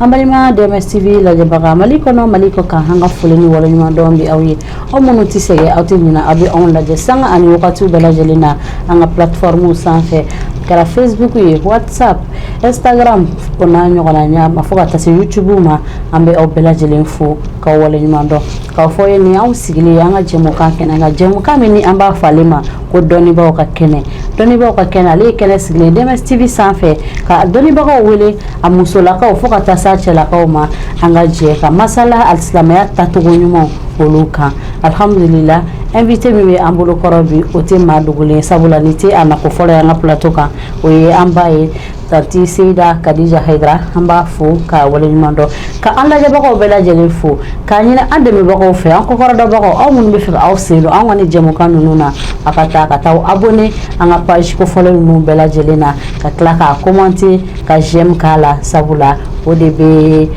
An balima DMS TV lajɛbaga mali kɔnɔ mali kɔ kan an ka foli ni waleɲumandɔn bɛ aw ye aw minnu tɛ sɛgɛn aw tɛ ɲinɛ aw bɛ anw lajɛ sanga ani wagati bɛɛ lajɛlen na an ka plateforme sanfɛ kɛra Facebook ye WhatsApp Instagram o n'a ɲɔgɔnna ɲɛ ma fo ka taa se YouTube ma an bɛ aw bɛɛ lajɛlen fo ka waleɲumandɔn k'a fɔ ye nin anw sigilen ye an ka jɛmukan kɛnɛ an ka jɛmukan min ni an b'a fɔ ale ma ko dɔnnibaa ka kɛnɛ dɔnnibaa ka kɛnɛ ale ye kɛnɛ sigilen DMS TV sanfɛ ka dɔnnibagaw wele a musolakaw fo ka taa se a cɛlakaw ma an ka jɛ ka masala alisilamɛya tacogo ɲumanw olu kan alhamdulila invité min bɛ an bolo kɔrɔ bi o tɛ maa dogolen sabula nin tɛ a nako fɔlɔ ye an ka plateau kan o ye an ba ye tanti seyida kadija hayidara an b'a fo k'a waleɲuman dɔn ka an lajɛbagaw bɛɛ lajɛlen fo k'a ɲini an dɛmɛbagaw fɛ an kɔkɔrɔdonbagaw aw minnu bɛ fɛ ka aw sen don an ka ni jɛmukan ninnu na a ka taa ka taa abonné an ka page kofɔlen ninnu bɛɛ lajɛlen na ka tila k'a commenter ka j'aime k'a la sabula o de bɛ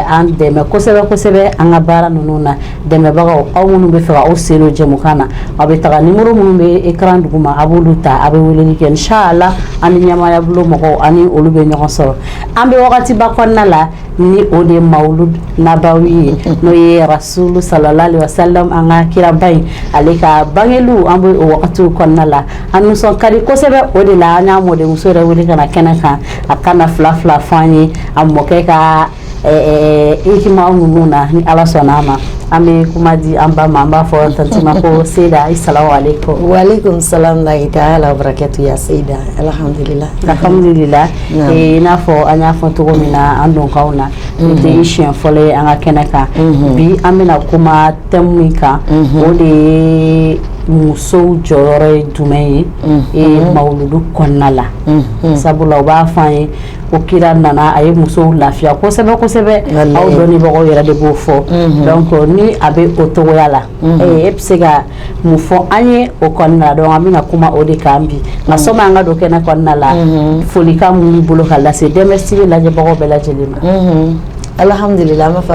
an dɛmɛ kosɛbɛ kosɛbɛ an ka baara ninnu na dɛmɛbagaw aw minnu bɛ fɛ aw sen don jɛmukan na aw bɛ taga numéro minnu bɛ écran duguma a b'olu ta a bɛ weleli kɛ inshallah an ɲɛmaaya bolo mɔgɔw a ni olu bɛ ɲɔgɔn sɔrɔ an bɛ wagatiba kɔnɔna la ni o de mawludu nabawi n'o ye arasulu salalahu alayhi wasalam an ka kiraba in ale ka bangeli an bɛ o wagati kɔnɔna la an nisɔn ka di kosɛbɛ o de la an y'a mɔdenmuso yɛrɛ wele ka na kɛnɛ kan a ka na fila fila fɔ an ye a mɔkɛ ka hikima ninnu na ni ala sɔnna a ma an bɛ kuma di an ba ma an b'a fɔ tanti ma ko seyida asalamu alayikum wa alayikum salam warahmatulahi taala wabarakatu ya seyida alhamdulila alhamdulila i n'a fɔ an y'a fɔ cogo min na an donkan na nin tɛ i siɲɛ fɔlɔ ye an ka kɛnɛ kan bi an bɛna kuma thème min kan o de ye musow jɔyɔrɔ ye jumɛn ye e mawludu kɔnɔna la sabula u b'a fɔ ye ko kira nana a ye musow lafiya kosɛbɛ kosɛbɛ aw dɔnnibagaw yɛrɛ de b'o fɔ donc ni a bɛ o cogoya la e bɛ se ka mun fɔ an ye o kɔnɔna donc an bɛna kuma o de kan bi nka sanni an ka don kɛnɛ kɔnɔna la folikan min b'i bolo ka lase DMS TV lajɛbagaw bɛɛ lajɛlen ma alhamdulila an bɛ fɔ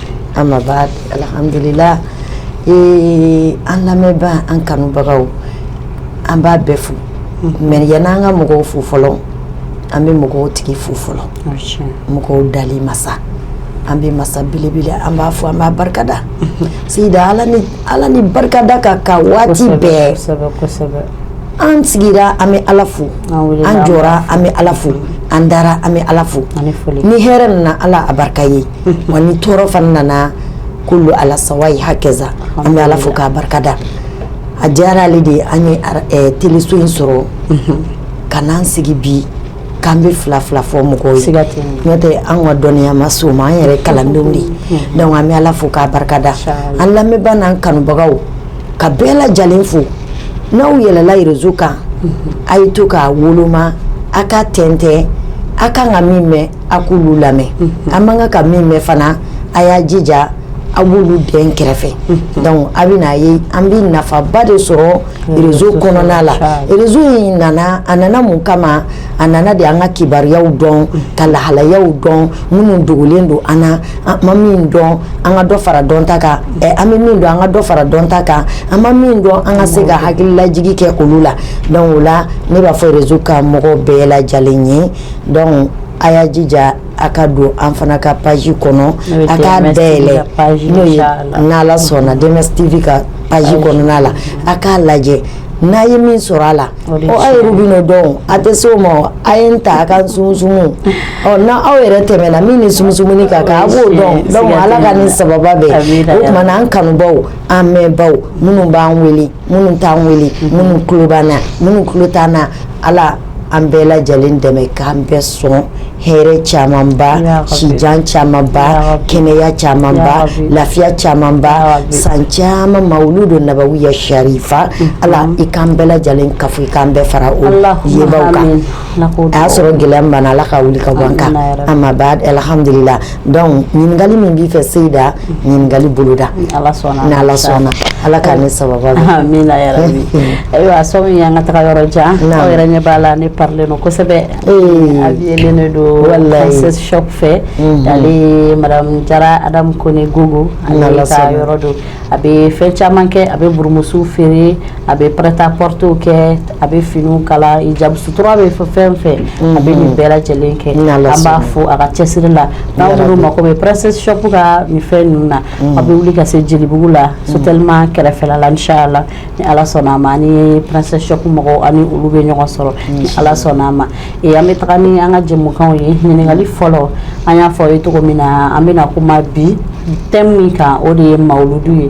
ama baadu alhamdulila ee an lamɛnba an kanubagaw an b'a bɛɛ fo mais yanni an ka mɔgɔw fo fɔlɔ an bɛ mɔgɔw tigi fo fɔlɔ mɔgɔw dali masa an bɛ masa belebele an b'a fo an b'a barika da seyida ala ni ala ni barikada ka kan waati bɛɛ an sigira an bɛ ala fo an jɔra an bɛ ala fo an dara an bɛ ala fo ni hɛrɛ nana ala a barika ye wa ni tɔɔrɔ fana nana kullu ala sawai hakaza an bɛ ala fo k'a barikada a diyara ale de ye an ye teliso in sɔrɔ ka na an sigi bi k'an bɛ fila fila fɔ mɔgɔw ye seiga n'o tɛ an ka dɔnniya ma se o ma an yɛrɛ kalandenw de ye an bɛ ala fo k'a barikada an lamɛnba n'an kanubagaw k'a bɛɛ lajɛlen fo n'aw yɛlɛla rezo kan a ye to k'a woloma aw ka tɛntɛn aw ka kan ka min mɛn a k'olu lamɛn an man kan ka min mɛn fana a y'a jija aw b'olu dɛn kɛrɛfɛ dɔnku a bɛn'a ye an bɛ nafaba de sɔrɔ rezo kɔnɔna la rezo in nana a nana mun kama a nana de an ka kibaruyaw dɔn ka lahalayaw dɔn minnu dogolen don an na an ma min dɔn an ka dɔ fara dɔn ta kan an bɛ min dɔn an ka dɔ fara dɔn ta kan an ma min dɔn an ka se ka hakililajigin kɛ olu la dɔnku o la ne b'a fɔ rezo ka mɔgɔ bɛɛ lajɛlen ye dɔnku a y'a jija a ka don an fana ka page kɔnɔ a ka yɛlɛ n'ala sɔnna DMS TV ka page kɔnɔna la a k'a lajɛ n'a ye min sɔrɔ a la aw yɛrɛ b'o dɔn a tɛ se o ma a ye ta a ka sumu ɔ n' aw yɛrɛ tɛmɛna min ni sumu ka kan a b'o dɔn dɔnku ala ka ni sababa bɛn o tuma an kanubaw an mɛnbaw minnu b'an weele minnu t'an weele minnu tulo b'an na minnu tulo t'an na ala an bɛɛ lajɛlen dɛmɛ k'an bɛɛ sɔn hɛrɛ camanba sijan camanba kɛnɛya camanba lafiya camanba san caman mawludu nabawiya sarifa ala i k'an bɛɛ lajɛlen kafo i k'an bɛɛ fara o yebaw kan a y'a sɔrɔ gɛlɛya min b'an na ala k'a wuli ka bɔ an kan amma ba'd alhamdulila dɔnku ɲininkali min b'i fɛ seyida ɲininkali boloda ni Ala sɔnna ma, n'Ala sɔnna Ala ka ne sababa bɛn, amina yarabi, ayiwa sani an ka taga yɔrɔ jan, aw yɛrɛ ɲɛ b'a la ne parilen don kosɛbɛ, ee, abiyelen de don princesse shop fɛ, unhun, ale ye madame Jara Adam Kone Gogo ale ka yɔrɔ don, a bɛ fɛn caman kɛ a bɛ burumusu feere a bɛ prêt-à-porterw kɛ a bɛ fini kala hijab sutura bɛ fɔ fɛn fɛn a bɛ nin bɛɛ lajɛlen kɛ an b'a fo a ka cɛsiri la n'aw mako bɛ princesse shop ka nin fɛn ninnu na a bɛ wuli ka se jelibugu la sotɛlima kɛrɛfɛla la inshala ni ala sɔnna a ma ni princesse shop mɔgɔw aw ni olu bɛ ɲɔgɔn sɔrɔ ni ala sɔnna a ma ee an bɛ taga ni an ka jɛmukan ye ɲininkali fɔlɔ an y'a fɔ ye cogo min na an bɛna na kuma bi thème min kan o de ye mawludu ye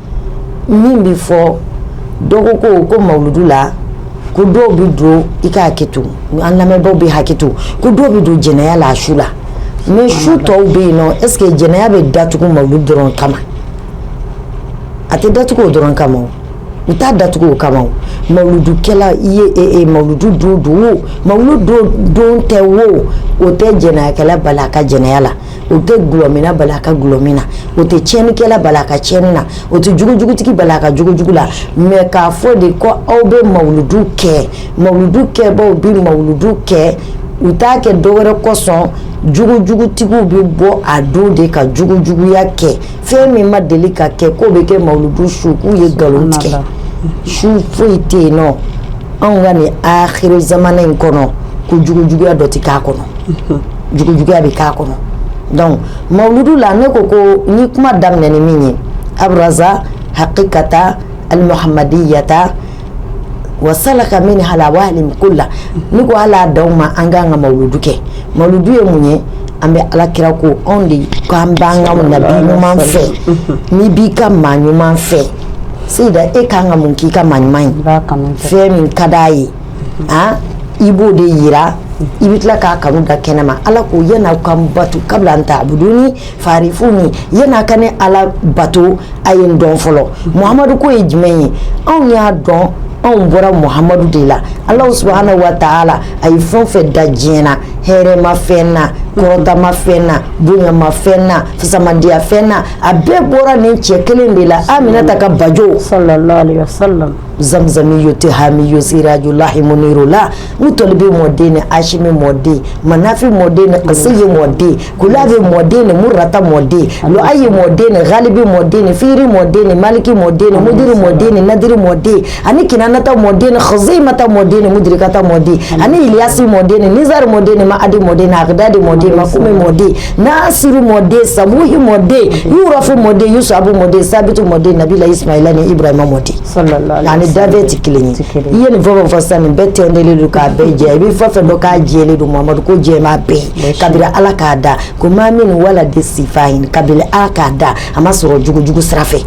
min bɛ fɔ dɔ ko ko ko mawludu la ko dɔw bɛ don i ka hakɛ to an lamɛnbagaw bɛ hakɛ to ko dɔw bɛ don jɛnɛya la a su la mais su tɔw bɛ yen nɔ est ce que jɛnɛya bɛ datugu mawludu dɔrɔn kama a tɛ datugu o dɔrɔn kama o u t'a datugu o kama o mawludukɛla i ye e e mawludu don don o mawludu don don tɛ o o tɛ jɛnɛyakɛla bali a ka jɛnɛya la o tɛ dlɔminna bali a ka dlɔmin na o tɛ tiɲɛnikɛla bali a ka tiɲɛni na o tɛ jugujugutigi bali a ka jugujugu la mais k'a fɔ de ko aw bɛ mawuludu kɛ mawuludu kɛbaaw bɛ mawuludu kɛ u t'a kɛ dɔ wɛrɛ kosɔn jugujugutigiw bɛ bɔ a don de ka jugujuguya kɛ fɛn min ma deli ka kɛ k'o bɛ kɛ mawuludu su k'u ye nkalon tigɛ su foyi tɛ yen nɔ anw ka nin akhiri zamana in kɔnɔ ko jugujuguya dɔ tɛ k'a kɔnɔ jugujuguya bɛ k'a kɔnɔ donc mawuludu la ne ko ko n ye kuma daminɛ ni min ye aburaza hakikata alimuhamadiyata wa salaka minhal awalima kula ne ko hal'a d'aw ma an k'an ka mawuludu kɛ mawuludu ye mun ye an bɛ alakira ko anw de ko an b'an ka nabi ɲuman fɛ n'i b'i ka maa ɲuman fɛ seyida e kan ka mun k'i ka maa ɲuman ye fɛn min ka d'a ye a i b'o de jira i bɛ tila k'a kanu da kɛnɛ ma ala ko yan'aw ka bato kabla an ta'abuduni fa'arifuni yan'a ka ne ala bato a ye n dɔn fɔlɔ muhamadu ko ye jumɛn ye anw y'a dɔn anw bɔra muhamadu de la ala subhanahu wa taala a ye fɛn o fɛn da diɲɛ na hɛrɛma fɛn na kɔrɔtama fɛn na bonyama fɛn na fisamantiya fɛn na a bɛɛ bɔra nin cɛ kelen de la aminata ka bajo zanmizani yo tɛ hami yo seraj lahimu la u tɔli bɛ mɔden ni asimi mɔden mafin mɔden a se ye mɔden ku bɛ mɔden ni murata mɔden a ye mɔden ni halibi mɔden ni fiiri mɔden ni maliki mɔden ni mudiri mɔden ni ladiri mɔden ani kɛnɛanata mɔden ni xze in mata mɔden ni mudirikata mɔden aniyasi mɔden ni nizri mɔden ni ma adi mɔden ni ada de mɔden ma fumi mɔden n' siri mɔden sabuhi mɔden y'rafin mɔden y'u sabu mɔden sabitu mɔden nabi la isumayila ni ibarahi mɔden A ni dafɛn tɛ kelen ye i ye nin fɛn fɔ sisan nin bɛɛ tɛntɛlen don k'a bɛɛ jɛ i bɛ fɛn fɛn dɔn k'a jɛlen don muhamadu ko jɛman bɛɛ kabini ala k'a da ko maa min wala de sifa in kabini ala k'a da a ma sɔrɔ jugujugu sira fɛ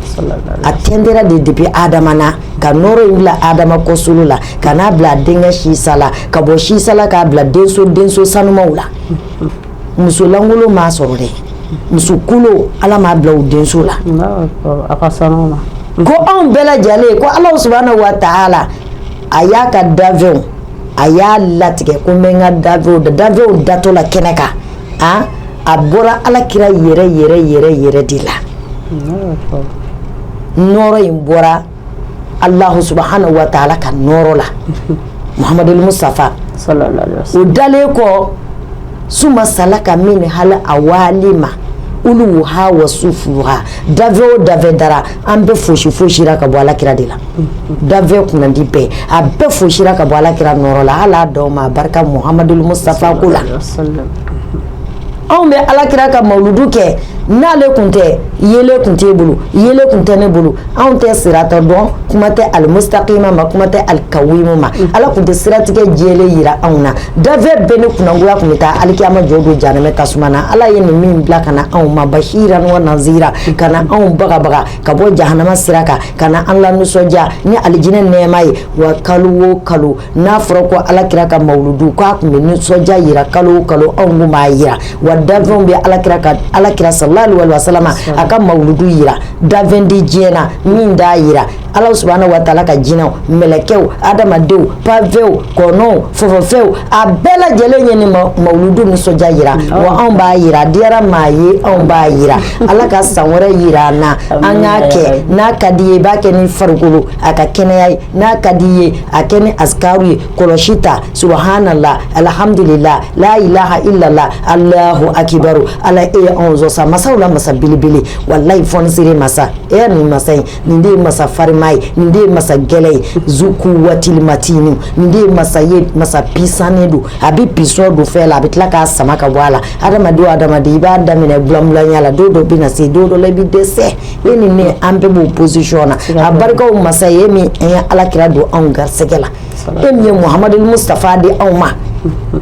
a tɛntɛra de depuis adama na ka nɔɔrɔ in bila adama kɔsolo la ka n'a bila a denkɛ sisa la ka bɔ sisa la k'a bila denso denso sanumanw la muso lankolon m'a sɔrɔ dɛ musokolon ala m'a bila o denso la ko anw bɛɛ lajɛlen ko ala subhanahu wa taala a y'a ka dafɛnw a y'a latigɛ ko n bɛ n ka da dafɛnw datɔ la kɛnɛ kan a a bɔra ala kira yɛrɛ yɛrɛ yɛrɛ yɛrɛ de la nɔrɔ in bɔra alahu subhanahu wa taala ka nɔɔrɔ la muhamadul mustafa o dalen kɔ suma salaka minhal awalima uluwuha wa sufuluha dafɛn o dafɛn dara an bɛɛ fosi fosira ka bɔ alakira de la dafɛn kunandi bɛɛ a bɛɛ fosira ka bɔ alakira nɔɔrɔ la ala dɔw ma barika muhamadul mustafa ko la Anw bɛ ala kira ka mawludu kɛ n'ale tun tɛ yeelen tun t'e bolo, yeelen tun tɛ ne bolo, anw tɛ sirata dɔn kuma tɛ alimustakima ma kuma tɛ alikawima ma, ala tun tɛ siratigɛ jɛlen jira anw na, dafɛn bɛɛ ni kunnagoya tun bɛ taa alikiyama jɔ don jahanama tasuma na, ala ye nin min bila ka na anw ma basiran wa nazira ka na anw bagabaga ka bɔ jahanama sira kan ka na an lanisɔndiya ni alijinɛ nɛɛma ye wa kalo o kalo n'a fɔra ko ala kira ka mawludu k'a tun bɛ nisɔndiya jira kalo o kalo anw tun b'a jira wa danfɛnw bɛ ala kira ka ala kira sallallahu alaihi wasallam a ka mawludu jira danfɛn di diɲɛ na min d'a jira ala subhanahu wa ta'ala ka jinɛw mɛlɛkɛw hadamadenw panfɛnw kɔnɔw fofofɛnw a bɛɛ lajɛlen ye nin mawludu nisɔndiya jira wa anw b'a jira diyara maa ye anw b'a jira ala ka san wɛrɛ jira an na an k'a kɛ n'a ka di i ye i b'a kɛ ni farikolo a ka kɛnɛya ye n'a ka di i ye a kɛ ni azkaru ye kɔlɔsi ta subahaana laahi alhamudulila laa ilaaha ilala alaahu akibaru Ala e ye anw sɔn sa masaw la masa belebele walayi fɔnisere masa e nin masa in nin de ye masa farima ye nin de ye masa gɛlɛn ye zul kuwatil matini nin de ye masa ye masa pisannen don a bɛ puissance don fɛn la a bɛ tila k'a sama ka bɔ a la hadamaden o hadamaden i b'a daminɛ bulanbulanya la don dɔ bɛ na se don dɔ la i bɛ dɛsɛ e ni ne an bɛɛ b'o position na a barika o masa ye e min an ye alakira don anw garisɛgɛ la e min ye Muhamadu Mustafa di anw ma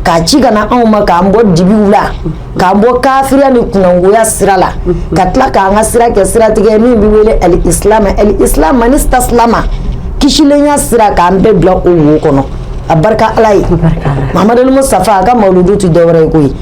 k'a ci ka na anw ma k'an bɔ dibiw la k'an bɔ kafiriya ni kunangoya sira la ka tila k'an ka sira kɛ siratigɛ min bɛ wele al islam al islam man istaslama kisilenya sira k'an bɛɛ bila o wo kɔnɔ a barika Ala ye Muhamadu Mustafa a ka mawuludu tɛ dɔwɛrɛ ye koyi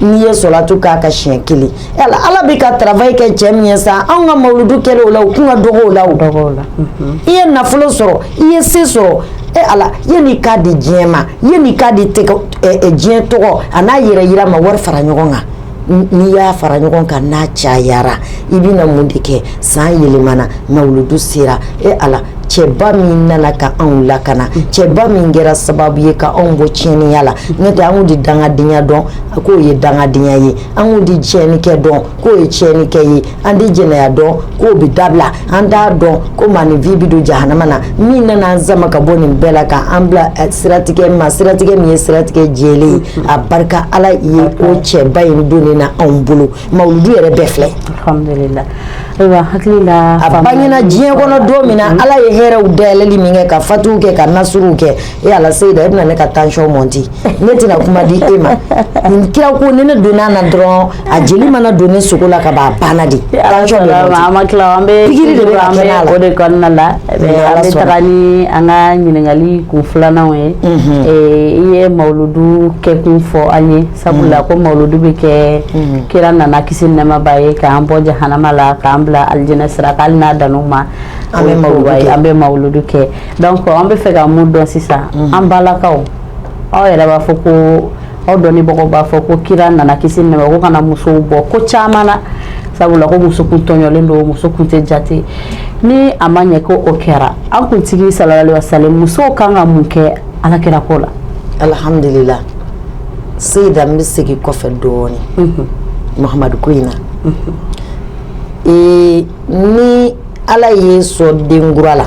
n'i ye solatu k'a kan siɲɛ kelen la ala bɛ ka travail kɛ cɛ min ye sa anw ka mawuludu kɛ o la o kun ka dɔgɔ o la i ye nafolo sɔrɔ i ye se sɔrɔ e ala yanni i k'a di diɲɛ ma yanni i k'a di diɲɛ tɔgɔ ani yɛrɛjira ma wari fara ɲɔgɔn kan n'i y'a fara ɲɔgɔn kan n'a cayara i bɛ na mun de kɛ san yɛlɛmana mawuludu sera e ala cɛba min nana ka anw lakana cɛba min kɛra sababu ye ka anw bɔ tiɲɛniya la n'o tɛ anw di dangadenya dɔn k'o ye dangadenya ye anw di tiɲɛnikɛ dɔn k'o ye tiɲɛnikɛ ye an di jɛnɛya dɔn k'o bɛ dabila an d'a dɔn ko maaninfin bɛ don jahanama na min nana an sama ka bɔ nin bɛɛ la ka an bila eh, siratigɛ ma siratigɛ min ye siratigɛ jɛlen ye a barika ala ye ko cɛba in donna anw bolo mawludu yɛrɛ bɛɛ filɛ Ayiwa hakili la a bangena diɲɛ kɔnɔ don min na ala ye hɛrɛɛw dayɛlɛli min kɛ ka fatuw kɛ ka nasuruw kɛ e ala seyida e bɛna ne ka tension monter ne tɛna kuma di e ma nin kira ko ni ne donna a na dɔrɔn a jeli mana don ne sogo la ka ban a banna dɛ o de kɔnɔna la an bɛ taa ni an ka ɲininkakali kun filananw ye i ye mawludu kɛkun fɔ an ye sabula ko mawludu bɛ kɛ kira nana kisi nɛɛma b'a ye k'an bɔ jahanama la k'an bila alijinɛ sira kan hali n'a dan'o ma an bɛ mawludu kɛ an bɛ mawludu kɛ donc an bɛ fɛ ka mun dɔn sisan an balakaw aw yɛrɛ b'a fɔ ko aw dɔnnibagaw b'a fɔ ko kira nana kisi nɛɛma ko ka na musow bɔ ko caman na sabula ko muso kun tɔɲɔlen don muso kun tɛ jate ni a ma ɲɛ ko o kɛra an kuntigi sallallahu alaihi wasallam musow kan ka mun kɛ alakira ko la alhamdulillah seyida n bɛ segin kɔfɛ dɔɔnin muhamadu ko in na ee ni ala y'i sɔn den kura la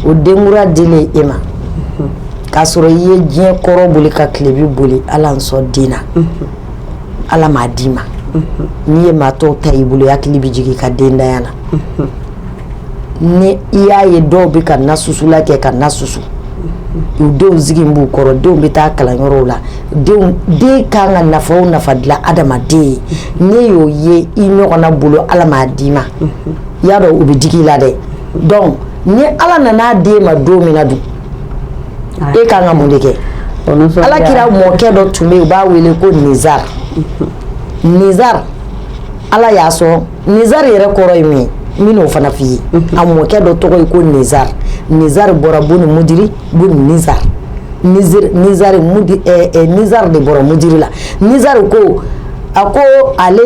o den kura dilen e ma k'a sɔrɔ i ye diɲɛ kɔrɔ boli ka tilebi boli ala n sɔn den na ala m'a d'i ma n'i ye maa tɔw ta i bolo i hakili bɛ jigin i ka dentanya na ni i y'a ye dɔw bɛ ka na susula kɛ ka na susu u denw sigi b'u kɔrɔ denw bɛ taa kalan yɔrɔw la den kan ka nafa o nafa dilan adamaden ye n'e y'o ye i ɲɔgɔnna bolo ala m'a d'i ma i y'a dɔn o bɛ digi i la dɛ donc ni ala nan'a d'e ma don min na dun e kan ka mun de kɛ ala kira mɔkɛ dɔ tun bɛ yen u b'a wele ko nizari nizari ala y'a sɔn nizari yɛrɛ kɔrɔ ye min ye n bɛn'o fana f'i ye a mɔkɛ dɔ tɔgɔ ye ko nizari nizari bɔra buni mudiri buni nizari nizari de bɔra mudiri la nizari ko a ko ale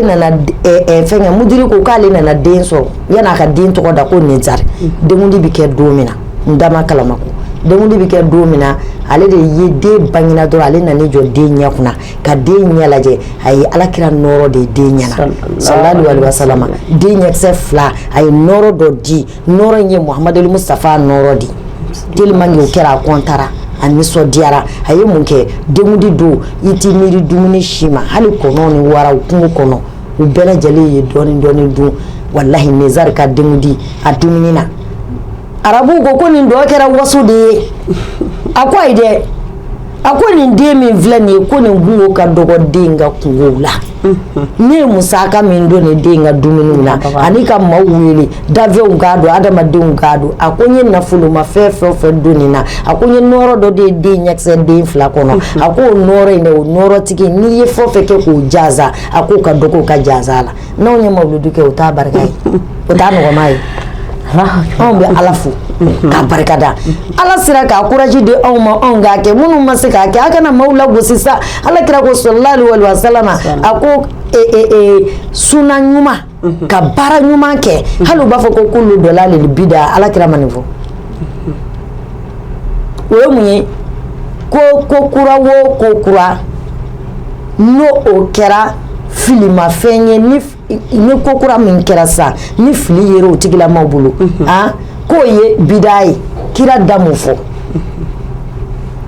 fɛnkɛ mudiri ko k'ale nana den sɔrɔ yann'a ka den tɔgɔ da ko nizari denkundi bɛ kɛ don min na n da kalama ko denkundi bɛ kɛ don min na ale de ye den bangina dɔrɔn ale nan'i jɔ den ɲɛ kunna ka den ɲɛ lajɛ a ye ala kira nɔɔrɔ de ye den ɲɛna sallallahu alaihi wasallam den ɲɛkisɛ fila a ye nɔɔrɔ dɔ di nɔɔrɔ in ye muhamadu mustafa nɔɔrɔ di tellement que o kɛra a kɔntara a nisɔndiyara a ye mun kɛ denkundi don i t'i miiri dumuni si ma hali kɔnɔw ni waraw kungo kɔnɔ u bɛɛ lajɛlen ye dɔɔnin dɔɔnin dun wallahi nizari ka denkundi a dumuni na arabu ko ko nin dɔ kɛra waso de ye a ko ayi dɛ a ko nin den min filɛ nin ye ko nin kunko ka dɔgɔ den ka kunkow la ne ye musaka min don nin den ka dumuniw na ani ka maaw wele dafɛnw k'a dun adamadenw k'a dun a ko n ye nafolomafɛn fɛn o fɛn don nin na a ko n ye nɔɔrɔ dɔ de ye den ɲɛkisɛ den fila kɔnɔ a ko o nɔɔrɔ in dɛ o nɔɔrɔtigi n'i ye fɛn o fɛn kɛ k'o jaza a k'o ka dɔgɔ o ka jaza la n' anw ye mawludu kɛ o t'a barika ye, o t'a nɔgɔma ye, anw bɛ Ala fo k'a barikada, Ala sera ka courage di anw ma anw k'a kɛ minnu ma se k'a kɛ aw kana maaw lagosi sa, alakira ko sala Lahu alayihi wa salama a ko e e e suna ɲuman, unhun, ka baara ɲuman kɛ hali u b'a fɔ ko kulu dɔlali bida alakira ma nin fɔ, o ye mun ye ko kura o ko kura n'o kɛra filimafɛn ye ni ko kura min kɛra sa ni fili yera o tigilamaw bolo a k'o ye bida ye kira da mun fɔ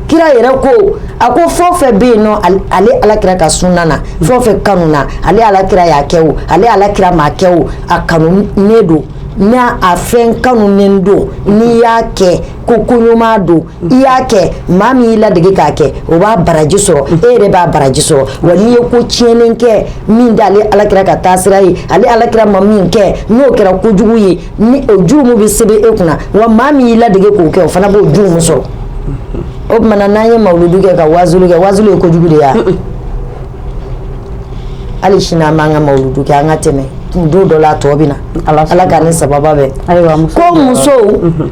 kira yɛrɛ ko a ko fɛn o fɛn bɛ yen nɔ ale ala kira ka suna na fɛn o fɛn kanuna ale ala kira y'a kɛ o ale ala kira m'a kɛ o a kanunen don n'a fɛn kanunen don n'i y'a kɛ ko koɲuman don i y'a kɛ maa min y'i ladege k'a kɛ o b'a baraji sɔrɔ e yɛrɛ b'a baraji sɔrɔ wa n'i ye ko tiɲɛnen kɛ min t'ale alakira ka taasira ye ale alakira ma min kɛ n'o kɛra kojugu ye ni o jurumu bɛ sɛbɛn e kunna wa maa min y'i ladege k'o kɛ o fana b'o jurumu sɔrɔ o tuma na n'an ye mawuludu kɛ ka waazuli kɛ waazuli ye kojugu de ye wa hali sini an b'an ka mawuludu kɛ an ka tɛmɛ don dɔ la a tɔ bɛ na ala k'an ni sababa bɛn ko musow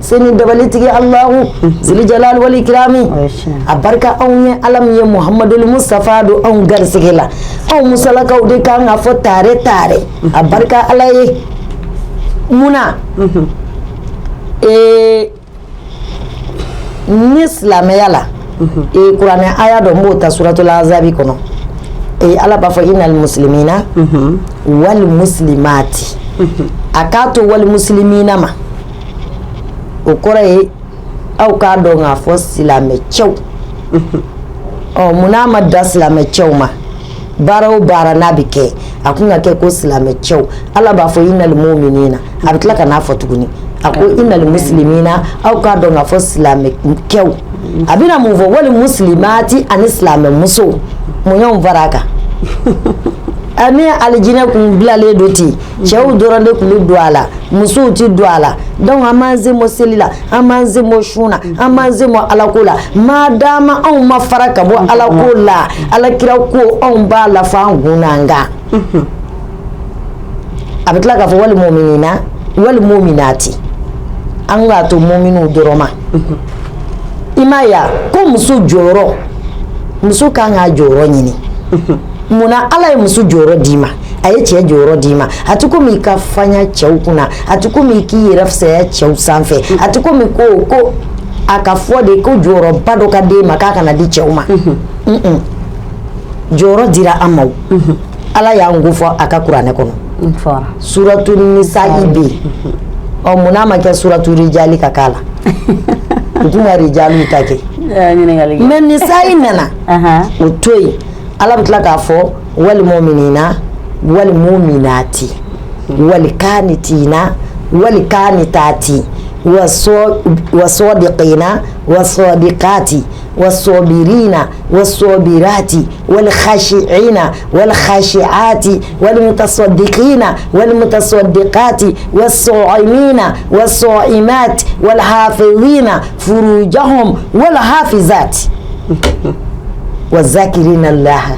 se ni dabalitigi alahu zilijalali wali ikirami a barika anw ye ala min ye muhamadul mustafa don anw garisɛgɛ la anw musolakaw de kan k'a fɔ tare tare a barika ala ye munna ee ni silamɛya la ee kuranɛ a y'a dɔn n b'o ta suratula azabi kɔnɔ ee ala b'a fɔ inali muslimina wali muslimati a k'a to wali muslimina ma o kɔrɔ ye aw k'a dɔn k'a fɔ silamɛ cɛw ɔ munna a ma dan silamɛ cɛw ma baara o baara n'a bɛ kɛ a kun ka kɛ ko silamɛ cɛw ala b'a fɔ inali muminina a bɛ tila ka n'a fɔ tuguni a ko inali muslimina aw k'a dɔn k'a fɔ silamɛ cɛw a bɛna mun fɔ wali muslimati ani silamɛ muso mun y'anw fara a kan ani alijinɛ kun bilalen don ten yen cɛw dɔrɔn de kun bɛ don a la musow tɛ don a la donc an b'an semo seli la an b'an semo sun na an b'an semo alako la ma d'a ma anw ma fara ka bɔ alako la alakira ko anw b'a la fo an kun n'an kan a bɛ tila k'a fɔ wali muminina wali muminati an k'a to muminu dɔrɔn ma imaniya ko muso jɔyɔrɔ muso ka kan k'a jɔyɔrɔ ɲini munna ala ye muso jɔyɔrɔ d'i ma a ye cɛ jɔyɔrɔ d'i ma a tɛ komi i ka fanya cɛw kunna a tɛ komi i k'i yɛrɛ fisaya cɛw sanfɛ a tɛ komi ko ko a ka fɔ de ko jɔyɔrɔba dɔ ka d'e ma k'a kana di cɛw ma jɔyɔrɔ dira an ma ala y'an ko fɔ a ka kuranɛ kɔnɔ suratu nisai bɛ yen ɔ munna a ma kɛ suratu rijali k'ala tun ka rijalu ta kɛ mɛ nisai nana o to yen ala bɛ tila k'a fɔ walima min na walima min na ten wali ka ni t na wali ka ni taa ten waso de ka in na waso de ka ten waso mi in na waso mi ten wali hasi e in na wali hasi a ten walima tasɔn de ka in na walima tasɔn de ka ten waso min na waso i ma ten wali hafe in na furujan wali hafsa ten wazkiri na lahara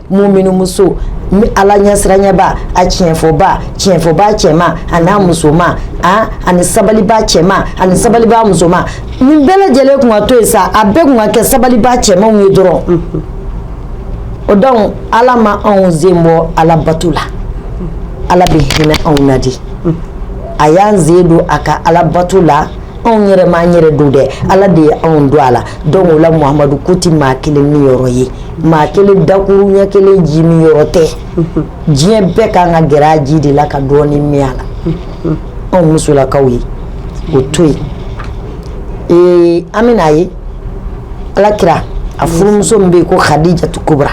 muminu kɛ muminu muso ni ala ɲɛsiranyaba a tiɲɛfɔba tiɲɛfɔba cɛma an'a musoman a ani sabaliba cɛma ani sabaliba musoman nin bɛɛ lajɛlen tun ka to yen sa a bɛɛ tun ka kɛ sabaliba cɛmanw ye dɔrɔn o dɔnki ala ma anw sen bɔ ala bato la ala bɛ hinɛ anw na de a y'an sen don a ka ala bato la anw yɛrɛ ma an yɛrɛ don dɛ ala de ye anw don a la dɔnki o la muhamadu ko tɛ maa kelen niyɔrɔ ye maa kelen dakuruɲɛ kelen ji min yɔrɔ tɛ diɲɛ bɛɛ ka kan ka gɛrɛ a ji de la ka dɔɔnin min a la anw musolakaw ye o to yen ee an bɛna a ye ala kira a furumuso min bɛ yen ko hadijatu kubura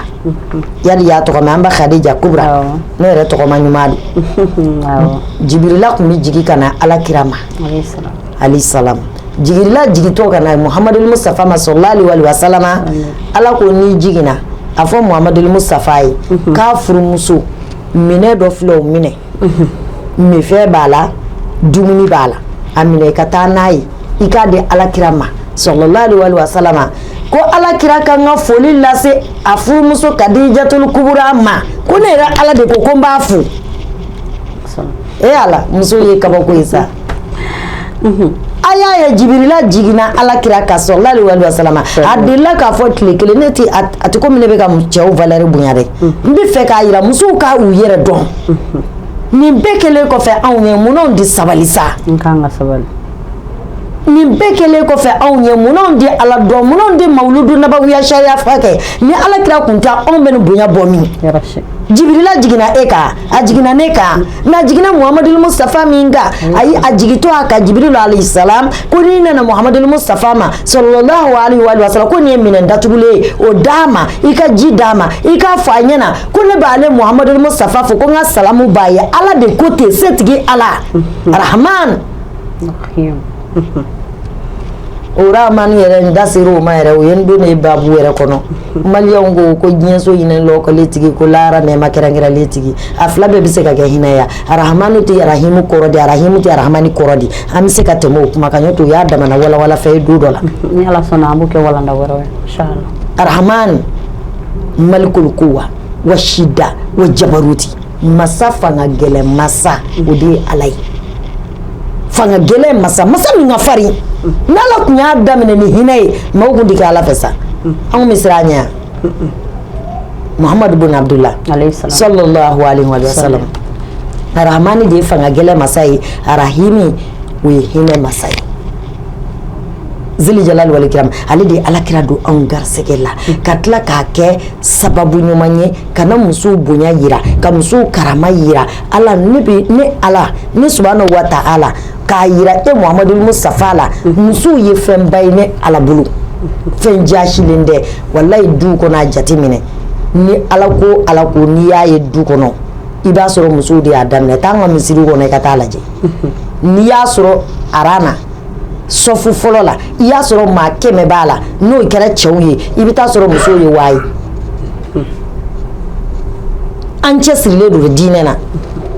yala y'a tɔgɔ mɛn an ba hadija kubura ne yɛrɛ tɔgɔma ɲuman don jibirila tun bɛ jigin ka na ala kira ma alayihi salamu jibirila jigintɔ ka na muhamadul musitafa ma salalahu alayihi wa salamu ala ko n'i jiginna a fɔ muhamadul musitafa ye k'a furumuso minɛ dɔ filɛ o minɛ minfɛn b'a la dumuni b'a la a minɛ i ka taa n'a ye i k'a di alakira ma salalahu alayihi wa salamu ko alakira ka kan ka foli lase a furumuso kadijatul kubura ma ko ne yɛrɛ ala de ko ko n b'a fo e ala muso ye kabako ye sa a y'a ye jibirila jiginna ala kira kan salalahu alayihi wa salama a delila k'a fɔ tile kelen ne tɛ a tɛ komi ne bɛ ka cɛw valɛri bonya dɛ n bɛ fɛ k'a jira musow ka u yɛrɛ dɔn nin bɛɛ kɛlen kɔfɛ anw ye munna an tɛ sabali sa nin bɛɛ kɛlen kɔfɛ anw ye munna an tɛ ala dɔn munna an tɛ mawludu nabawiya sariya fa kɛ ni ala kira tun tɛ anw bɛ nin bonya bɔ min Jibirila jiginna e kan a jiginna ne kan n'a jiginna Mahamadu Musatafa min kan ayi a jigintɔ a kan jibirila alehi salaam ko n'i nana Mahamadu Musatafa ma salalahu aleyihi wa salama ko nin ye minɛn datugulen ye o d'a ma i ka ji d'a ma i k'a fɔ a ɲɛna ko ne b'ale Mahamadu Musatafa fo ko n ka salamu b'a ye Ala de ko ten setigi Ala arahamaan. o arahamani yɛrɛ n da sera o ma yɛrɛ o y'an don ne babu wɛrɛ kɔnɔ maliyɛnw ko ko diɲɛso hinɛ lɔkɔlen tigi ko lahara nɛɛma kɛrɛnkɛrɛnlen tigi a fila bɛɛ bɛ se ka kɛ hinɛ ye arahamani tɛ arahimu kɔrɔ di arahimu tɛ arahamani kɔrɔ di an bɛ se ka tɛmɛ o kuma kan n'o tɛ o y'a dama na walawala fɛn ye don dɔ la ni Ala sɔnna an b'o kɛ walanda wɛrɛ ye inchallah arahamani malikul kuwa wa shida wa jabaruti masa fanga gɛlɛn masa o de ye ala ye fanga gɛlɛn masa masa min ka farin n'ala tun y'a daminɛ ni hinɛ ye mɔgɔw tun tɛ kɛ ala fɛ sa anw bɛ siran a ɲɛ mahamadu bin abudula salalahu aleyihi wa salama arahamani de ye fanga gɛlɛn masa ye arahimi o ye hinɛ masa ye zili jalali wal ikiram ale de ye alakira don anw garisɛgɛ la ka tila k'a kɛ sababu ɲuman ye ka na muso bonya jira ka muso karama jira ala ne ala ne subhanahu wa taala k'a jira e mahamadu musatafa la musow ye fɛnba ye ne ala bolo fɛn jaasilen tɛ walayi du kɔnɔ a jate minɛ ni ala ko ala ko n'i y'a ye du kɔnɔ i b'a sɔrɔ musow de y'a daminɛ taa an ka misiri kɔnɔ i ka taa a lajɛ n'i y'a sɔrɔ aran na sɔfu fɔlɔ la i y'a sɔrɔ maa kɛmɛ b'a la n'o kɛra cɛw ye i bɛ taa sɔrɔ musow ye waa ye an cɛsirilen don diinɛ na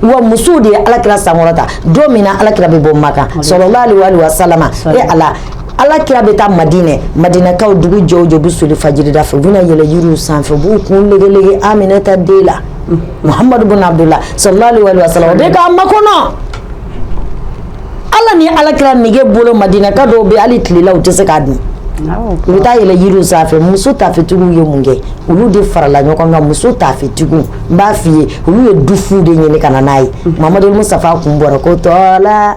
wa musow de ye alakira sankɔrɔta don min na alakira bɛ bɔ makan salalahu aleyihi wa salama ala alakira bɛ taa madinɛ madinɛkaw dugu jɛ o jɛ u bɛ soli fajiri da fɛ u bɛ na yɛlɛn yiriw sanfɛ u b'u kun legelege Aminata den la mahamadu bin abudula salalahu aleyihi wa salama u bɛ k'a makɔnɔ ala ni alakira nege bolo madinɛka dɔw bɛ hali tilela u tɛ se k'a dun u bɛ taa yɛlɛn yiri sanfɛ muso tafetigiw ye mun kɛ olu de farala ɲɔgɔn kan muso tafetigiw n b'a fɔ i ye olu ye dufu de ɲini ka na n'a ye mahamadu musatafa kun bɔra ko tɔla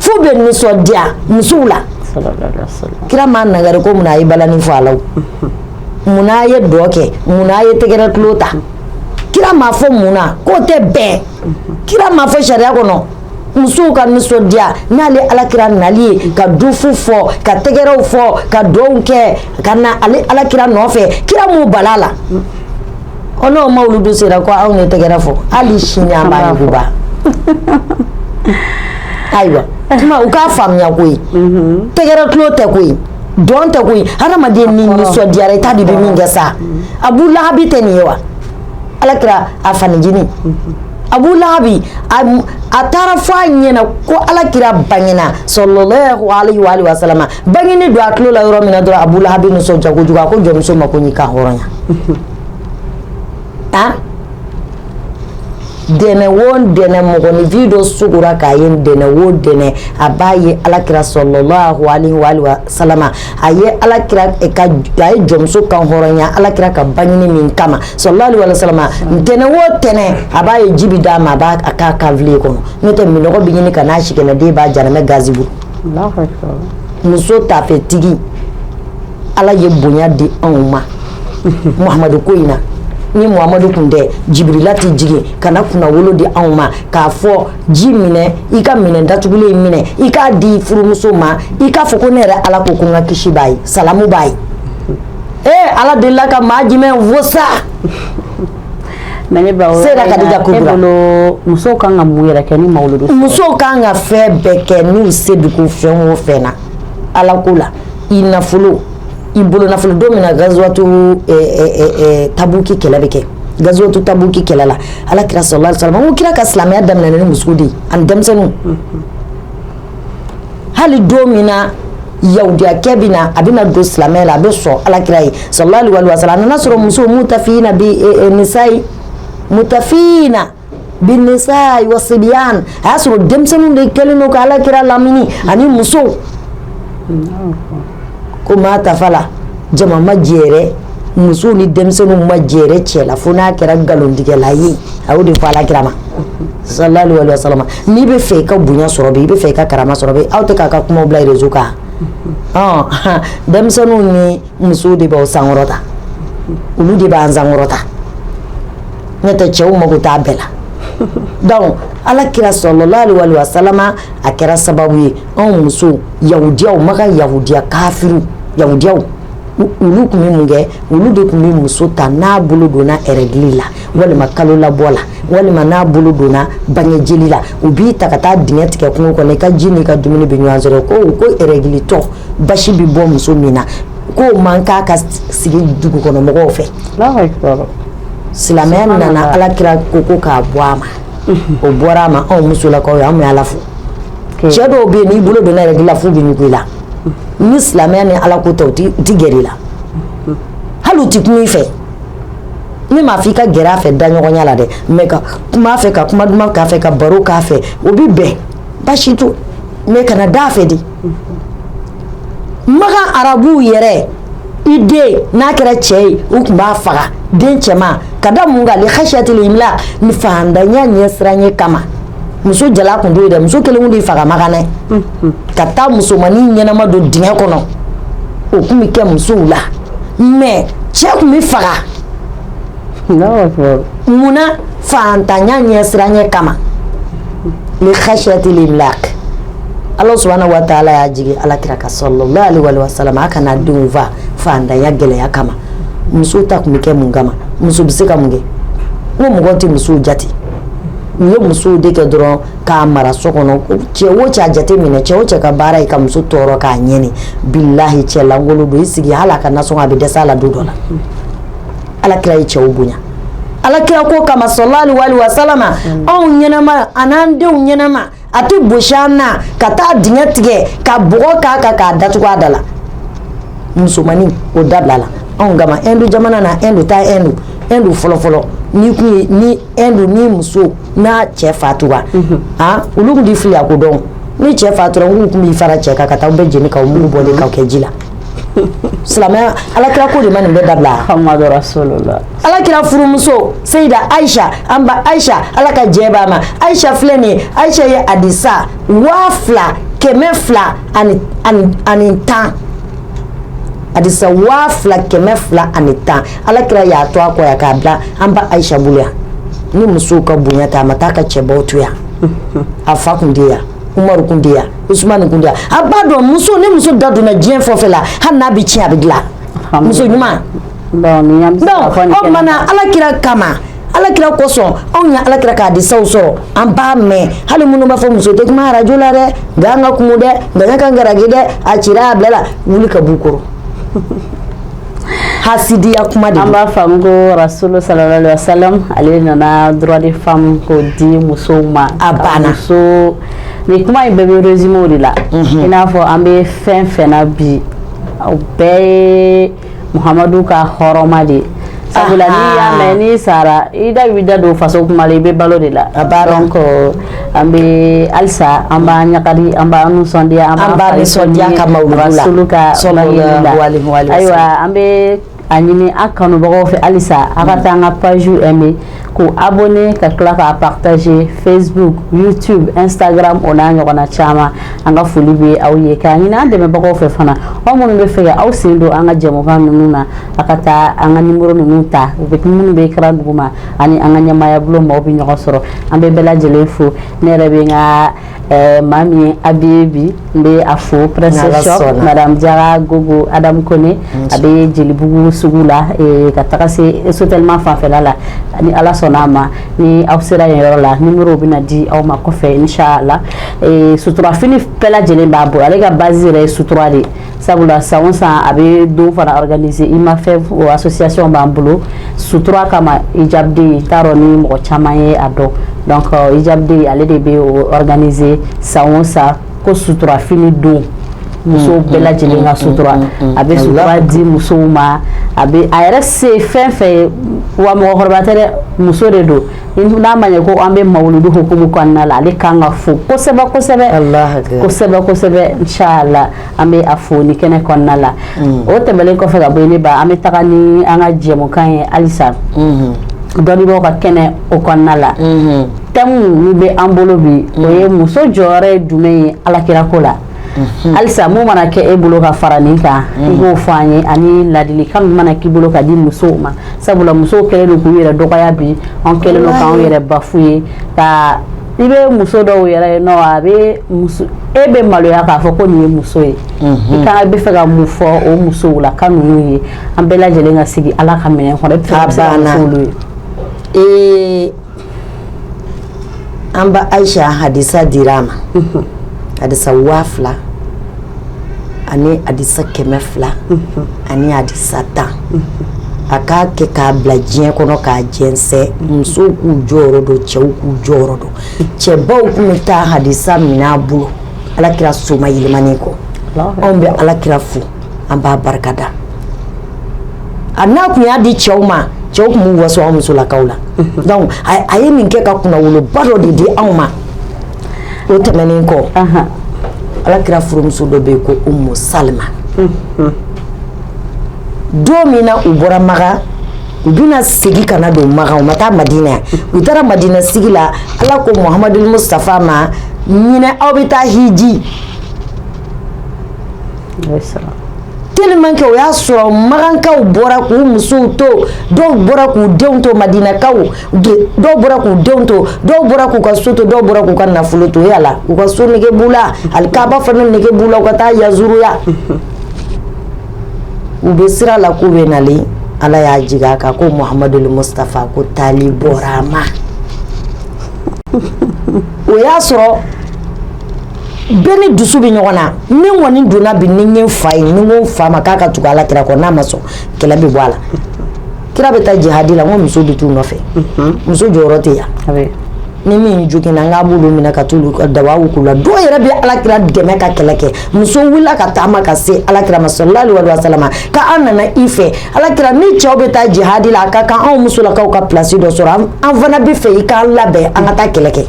f'u bɛ nisɔndiya musow la kira m'a nagari ko mun na a ye balani fɔ a la mun na a ye dɔn kɛ mun na a ye tɛgɛrɛ tulo ta kira m'a fɔ mun na k'o tɛ bɛn kira m'a fɔ sariya kɔnɔ musow ka nisɔndiya n'ale alakira nali ye ka dufu fɔ ka tɛgɛrɛw fɔ ka dɔnw kɛ ka na ale alakira nɔfɛ kira m'u bal'a la Ɔ n'o mawuludu sera ko aw ye tɛgɛrɛ fɔ hali sini an b'a wuguba ayiwa tuma u k'a faamuya koyi unhun tɛgɛrɛ tulon tɛ koyi dɔn tɛ koyi hadamaden n'i nisɔndiyara i t'a dɔn i bɛ min kɛ sa Abu Lahabi tɛ nin ye wa alakira a fanincinin unhun Abu Lahabi a taara fɔ a ɲɛna ko alakira bangena sallallahu alaihi wa alihi wasallam Bangeni don a tulo la yɔrɔ min na dɔrɔn Abu Lahabi nisɔndiya kojugu a ko jɔnmuso ma ko n y'i kan hɔrɔnya, unhun, a ntɛnɛn o ntɛnɛn mɔgɔninfin dɔ sugora k'a ye ntɛnɛn o ntɛnɛn a b'a ye alakira sallallahu alaihi wasallam a ye alakira ka a ye jɔnmuso kan hɔrɔnya alakira ka bangeni min kama sallallahu alaihi wasallam ntɛnɛn o ntɛnɛn a b'a ye ji bɛ d'a ma a b'a k'a kanfile kɔnɔ n'o tɛ minnɔgɔ bɛ ɲini ka n'a sikɛnɛden b'a jahanama gazibo muso taafetigi ala ye bonya di anw ma Muhamadu ko in na ni Muhamadu tun tɛ Jibirila tɛ jigin ka na kunnawolo di anw ma k'a fɔ ji minɛ i ka minɛ datugulen in minɛ i k'a di furumuso ma i k'a fɔ ko ne yɛrɛ ala ko ko n ka kisi b'a ye salamu b'a ye ee ala delila ka maa jumɛn fo sa mais ne ba o sera Kadija Kubra muso kan ka mun yɛrɛ kɛ ni mawuludu muso kan ka fɛn bɛɛ kɛ n'u se bi ko fɛn o fɛn na ala ko la i nafolo i bolo nafolo don min na gazuwatu eh, eh, eh, eh, tabuki kɛlɛ bɛ kɛ gazuwatu tabuki kɛlɛ la alakira sallallahu alaihi wasallam ko kira ka silamɛya daminɛna ni muso de ye ani denmisɛnninw mm -hmm. hali don min na yahudiyakɛ bɛ na a bɛna don silamɛya la a bɛ sɔn alakira ye sallallahu alaihi wasallam a nana sɔrɔ muso mutafina bi nisai mutafina bi nisai wa sibyan a y'a sɔrɔ denmisɛnninw de kɛlen don ka alakira lamini ani muso ko maa tafa la jama ma jɛrɛ muso ni denmisɛnninw ma jɛrɛ cɛ la fo n'a kɛra nkalontigɛla ye a y'o de fɔ alakira ma sallallahu alaihi wasallam n'i bɛ fɛ i ka bonya sɔrɔ bi i bɛ fɛ i ka karama sɔrɔ bi aw tɛ k'a ka kuma bila réseau kan denmisɛnninw ni musow de b'aw sankɔrɔta olu de b'an sankɔrɔta ne tɛ cɛw mako t'a bɛɛ la donc alakira sallallahu alaihi wasallam a kɛra sababu ye Anw muso yahudiyaw Maka yahudiya kafiri yahudiyaw olu tun bɛ mun kɛ olu de tun bɛ muso ta n'a bolo donna règle la walima kalo labɔ la walima n'a bolo donna bange jeli la u b'i ta ka taa dingɛ tigɛ kungo kɔnɔ i ka ji n'i ka dumuni bɛ ɲɔgɔn sɔrɔ ko ko règletɔ basi bɛ bɔ muso min na k'o man kan ka sigi dugukɔnɔmɔgɔw fɛ silamɛya nana alakira ko ko k'a bɔ a ma o bɔra a ma anw musolakaw ye anw ala fo cɛ dɔw bɛ yen n'i bolo donna règle la f'u bɛ ɲugun i la ni silamɛya ni Ala ko tɛ u tɛ gɛrɛ i la hali u tɛ kuma i fɛ ne m'a fɔ i ka gɛrɛ a fɛ daɲɔgɔnya la dɛ mais ka kuma a fɛ ka kuma duman k'a fɛ ka baro k'a fɛ o bɛ bɛn baasi t'o mais kana d'a fɛ de Makan arabuw yɛrɛ i den n'a kɛra cɛ ye u tun b'a faga den cɛman ka da mun kan li khashiyatil imlaq ni faantanya ɲɛsiranye kama muso jalan tun t'o ye dɛ muso kelen tɛ faga makan dɛ ka taa musomannin ɲɛnama don dingɛ kɔnɔ o tun bɛ kɛ musow la mais cɛ tun bɛ faga munna faantanya ɲɛsiranɲɛ kama li khashiyatil imlaq ala subhanahu wa ta'ala y'a jigin ala kira kan sallallahu alaihi wa sallam a kana denw faa faantanya gɛlɛya kama muso ta tun bɛ kɛ mun kama muso bɛ se ka mun kɛ ko mɔgɔ tɛ muso jate u ye muso de kɛ dɔrɔn k'a mara so kɔnɔ cɛ wo cɛ a jate minɛ cɛ wo cɛ ka baara ye ka muso tɔɔrɔ k'a ɲani bilayi cɛlankolon don i sigi hali a ka nasɔngɔ a bɛ dɛsɛ a la don dɔ la ala kira ye cɛw bonya ala kira ko kama sallallahu alaihi wa sallam anw ɲɛnama ani an denw ɲɛnama a tɛ bosi an na ka taa dingɛ tigɛ ka bɔgɔ k'a kan k'a datugu a da la musomannin o dabilala anw kama Ɛndu jamana na Ɛndu taa Ɛndu Ɛndu fɔlɔfɔlɔ ni tun ye ni Ɛndu ni muso n'a cɛ fatura aa olu tun tɛ filiya ko dɔn ni cɛ fatura u tun b'i fara cɛ kan ka taa bɛɛ jeni k'a mugu bɔ de k'a kɛ ji la silamɛya ala kira ko de ma nin bɛɛ dabila Muhamadu rasulullah ala kira furumuso Sayida ayisa an ba ayisa ala ka jɛn ba ma ayisa filɛ nin ye ayisa ye hadisa waa fila kɛmɛ fila ani ani tan hadisa waa fila kɛmɛ fila ani tan ala kira y'a to a kɔ yan k'a bila an ba ayisa bolo yan ni musow ka bonya tɛ a ma taa ka cɛbaw to yan a fa tun tɛ yan Umaru tun tɛ yan Usuman tun tɛ yan a b'a dɔn muso ni muso da donna diɲɛ fɛn o fɛn na hali n'a bɛ tiɲɛ a bɛ dilan muso ɲuman ala kira kama ala kira kosɔn anw ye ala kira ka hadisaw sɔrɔ an b'a mɛn hali minnu b'a fɔ muso tɛ kuma arajo la dɛ nka an ka kuma dɛ nka ka garijɛ dɛ a sira bilala wuli ka bɔ kɔrɔ hasidiya kuma de an b'a faamu rasulu sallallahu alaihi wa sallam ale nana droit des femmes ko di musow ma a banna so ni kuma in bɛɛ bɛ résumé de la i n'a fɔ an bɛ fɛn fɛn na bi a bɛɛ Muhamadu ka horoma de ye sabula n'i y'a mɛn n'i sara i da bɛ da don faso kuma la i bɛ balo de la donc an bɛ halisa an b'an ɲagali an b'an nisɔndiya an b'an nisɔndiya rasulu kan ayiwa an bɛ a ɲini an kanubagaw fɛ halisa an ka taa an ka page bɛ k'u abonné ka tila k'a partager facebook youtube instagram o n'a ɲɔgɔnna caman an ka foli bɛ aw ye k'a ɲini an dɛmɛbagaw fɛ fana aw minnu b'a fɛ k'aw sen don an ka jɛmukan ninnu na a ka taa an ka nimoro ninnu ta u bɛ minnu bɛ écran duguma a ni an ka ɲɛmaayabulon maaw bɛ ɲɔgɔn sɔrɔ an bɛ bɛɛ lajɛlen fo ne yɛrɛ bɛ n ka Ɛɛ maa min ye n habillé bi n bɛ a fo princesse shop madame jara gogo adamu kone a bɛ jelibugu sugu la ka taga se sotelma fanfɛla la ni ala sɔnna a ma ni aw sera yen yɔrɔ la nimoro bɛna di aw ma kɔfɛ inshallah suturafini bɛɛ lajɛlen b'a bolo ale ka base yɛrɛ ye sutura de ye sabula san o san a bɛ dɔ fana organiser i n'a fɔ association b'an bolo sutura kama hijab day taa dɔn ni mɔgɔ caman ye a dɔn donc hijab day ale de bɛ organiser san o san ko suturafini don musow bɛɛ lajɛlen ka sutura a bɛ sutura di musow ma a a yɛrɛ se fɛn fɛn ye wa mɔgɔkɔrɔba tɛ dɛ muso de don n'a ma ɲɛ ko an bɛ mawuludu hukumu kɔnɔna la ale ka kan ka fo kosɛbɛ kosɛbɛ kosɛbɛ kosɛbɛ inshallah an bɛ a fo nin kɛnɛ kɔnɔna la mm. o tɛmɛlen kɔfɛ ka bɔ ne ba an bɛ taga ni an ka jɛmukan ye halisa mm-hmm. dɔnnibaaw ka kɛnɛ o kɔnɔna la mm-hmm. tɛmu min bɛ an bolo bi o ye mm. muso jɔyɔrɔ ye jumɛn ye ala kira ko la halisa mun mana kɛ e bolo ka fara nin kan i b'o fɔ an ye ani ladili kan mana k'i bolo ka di musow ma sabula musow kɛlen don k'u yɛrɛ dɔgɔya bi an kɛlen don k'an yɛrɛ bafu ye ka i bɛ muso dɔw yɛrɛ ye nɔ a bɛ muso e bɛ maloya k'a fɔ ko nin ye muso ye i ka b'a fɛ ka mun fɔ o musow la ka ninnu ye an bɛɛ lajɛlen ka sigi ala ka minɛn kɔnɔ e bɛ se ka musow ye ee An ba ayisa hadisa dira a ma hadisa waa fila ani hadisa kɛmɛ fila ani hadisa tan a k'a kɛ k'a bila diɲɛ kɔnɔ k'a jɛnsɛn musow k'u jɔyɔrɔ dɔn cɛw k'u jɔyɔrɔ dɔn cɛbaw tun bɛ taa hadisa minɛ a bolo ala kira somayɛlɛmanen kɔ anw bɛ ala kira fo an b'a barika da a n'a tun y'a di cɛw ma cɛw tun b'u waso an musolakaw la donc a ye min kɛ ka kunnawoloba dɔ de di anw ma o tɛmɛnen kɔ ala kira furumuso dɔ bɛ yen ko Umu Salama don min na u bɔra Makan u bɛna segin ka na don Makan u ma taa Madina yan u taara Madina sigi la Ala ko Muhamadu Mustafa ma ɲinɛ aw bɛ taa hiji tellement que o y'a sɔrɔ makankaw bɔra k'u musow to dɔw bɔra k'u denw to madinakaw dɔw bɔra k'u denw to dɔw bɔra k'u ka so to dɔw bɔra k'u ka nafolo to yala la u ka so nege b'u la alikaaba fana nege b'u la u ka taa yazuruya u bɛ sira la k'u bɛ nalen ala y'a jigin a kan ko muhamadul mustafa ko taali bɔra a ma o y'a sɔrɔ bɛɛ ni dusu bɛ ɲɔgɔn na ni kɔni donna bi ni n fa ye n ko n fa ma k'a ka tugu ala kira kɔ n'a ma sɔn kɛlɛ bɛ bɔ a la kira bɛ taa jihadi la n ko muso bɛ t'u nɔfɛ muso jɔyɔrɔ tɛ yan ni min joginna n'a b'olu minɛ ka t'u ka dawa k'u la dɔw yɛrɛ bɛ ala kira dɛmɛ ka kɛlɛ kɛ muso wulila ka taama ka se ala kira ma salalahu aleyihi wa salama k'an nana i fɛ ala kira ni cɛw bɛ taa jihadi la a ka kan anw musolakaw ka place dɔ sɔrɔ an fana b'a fɛ i k'an labɛn an ka taa kɛlɛ kɛ